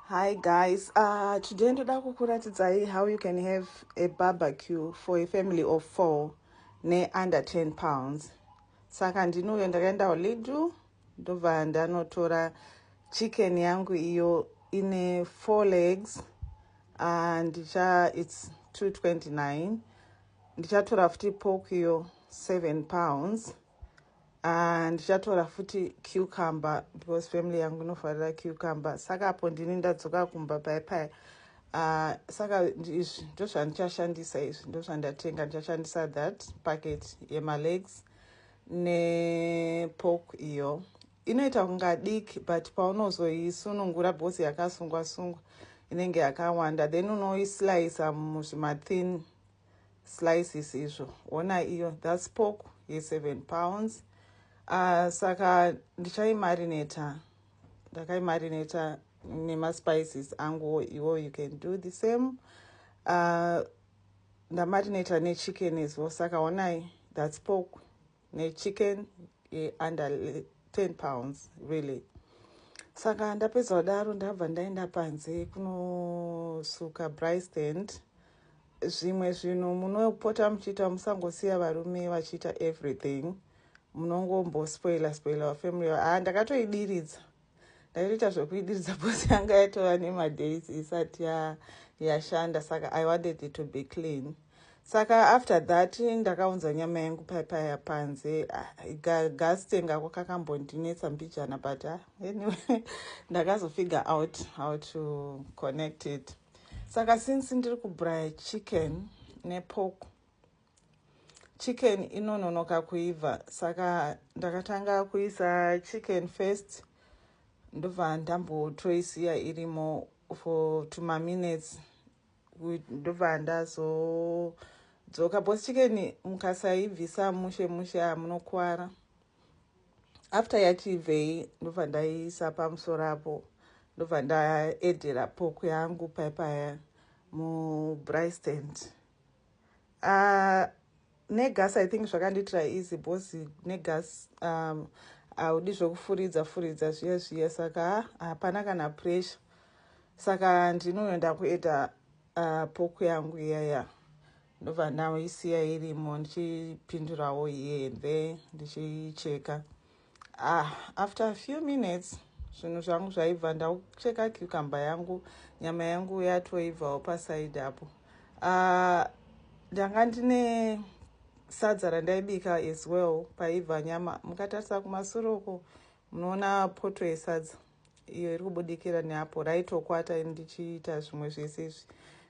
Hi guys, uh, today ndoda kukuratidzai how you can have a barbecue for a family of four ne under 10 pounds. Saka ndinouyo ndakaenda kuLidl ndobva ndanotora chicken yangu iyo ine four legs and uh, it's 229 ndichatora futi pork iyo 7 pounds Ah, ndichatora futi cucumber because family yangu inofarira cucumber saka apo ndini ndadzoka kumba paye paye ah, saka izvi ndo zvandichashandisa izvi ndo zvandatenga ndichashandisa that packet yemalegs nepork iyo inoita kunga diki but paunozoisunungura because yakasungwa sungwa inenge yakawanda then unoislicer muzvimathin slices izvo ona iyo thats pork ye7 pounds uh, saka ndichaimarineta ndakaimarineta nemaspices anguwo iwo you can do the same uh, ah, ndamarineta nechicken as well saka onai thats pork nechicken under 10 pounds really saka ndapedza kudaro ndabva ndaenda panze kunosuka bristand zvimwe zvinhu munopota muchiita musangosiya varume vachiita everything munongombospoila spoila vafamily haa ah, ndakatoidiridza ndaitoita zvekuidiridza bhosi yanga yatova nemadays isati yashanda saka i wanted it to be clean saka after that ndakaunza nyama yangu paipaya panze ah, gasitenga ko kakambondinetsa mbijana but ah, anyway ndakazofigure out how to connect it saka since ndiri kubraya chicken nepoko chicken inononoka kuibva saka ndakatanga kuisa chicken first ndobva ndambotoisiya irimo for tuma minutes ndobva ndazodzoka bcause chicken mukasaibvisa mushe mushe hamunokwara after yachibvei ndobva ndaiisa pamusoro apo ndobva ndaedera poku yangu paipaya mubristand Uh, negas i think zvakandiitira easy bos negas um, haudi zvekufuridza furidza zviya zviya saka hapana kana pressure saka ndinoenda kuita uh, poku yangu iyaya ndobva ndaiisiya irimo ndichipindurawo here ndichicheka Ah, after a few minutes zvinhu zvangu zvaibva ndaucheka cucumber yangu nyama yangu yatoibvawo pasaidi apo ah, ndanga uh, ndine sadza randaibika as well paibva nyama mukatarisa kumasure uko munoona poto yesadza iyo iri kubudikira neapo raitokwata ndichiita zvimwe zvese izvi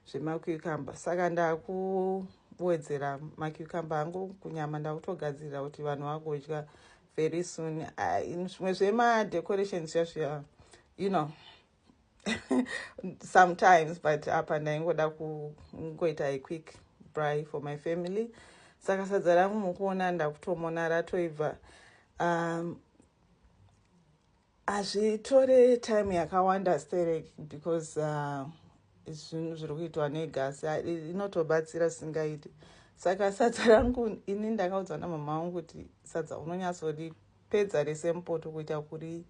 zvemacucumber saka ndakuwedzera macucumber angu kunyama ndakutogadzirira kuti vanhu vagodya very soon ah, zvimwe zvemadecorations zvazviya you know sometimes but apa ndaingoda kungoita a quick bry for my family saka sadza rangu mukuona ndakutomona ratoibva um, hazvitore time yakawanda sterek because uh, zvinhu zviri kuitwa negasi inotobatsira singaiti saka sadza rangu ini ndakaudzwa namama vangu kuti sadza unonyatsoripedza rese mupoto kuita kuri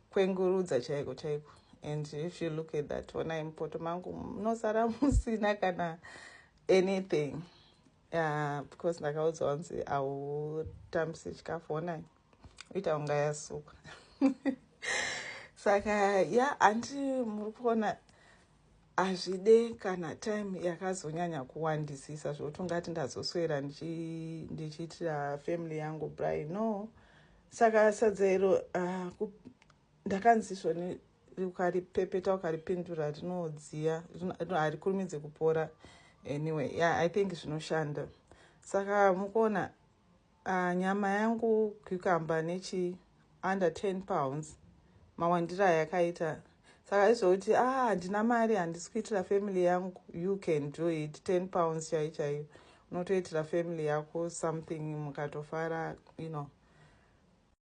kwengurudza chaiko chaiko and if you look at that onai mupoto mangu munosara musina kana anything uh, because ndakaudzwa kunzi hautambise chikafu onai ita unga yasukwa saka ya hanti muri kuona hazvide kana time yakazonyanya kuwandisisa zvokuti ungati ndazoswera ndichiitira family yangu bry no saka sadza iro ah, ndakanzi svoni ukaripepeta ukaripindura rinodziya harikurumidze kupora anyway yeah, i think zvinoshanda saka mukuona Ah, nyama yangu cucumber nechi under 10 pounds mawandira ayakaita saka izvouti ah handina mari handisi kuitira family yangu you can do it 10 pounds chai chaiyo unotoitira family yako something mukatofara you know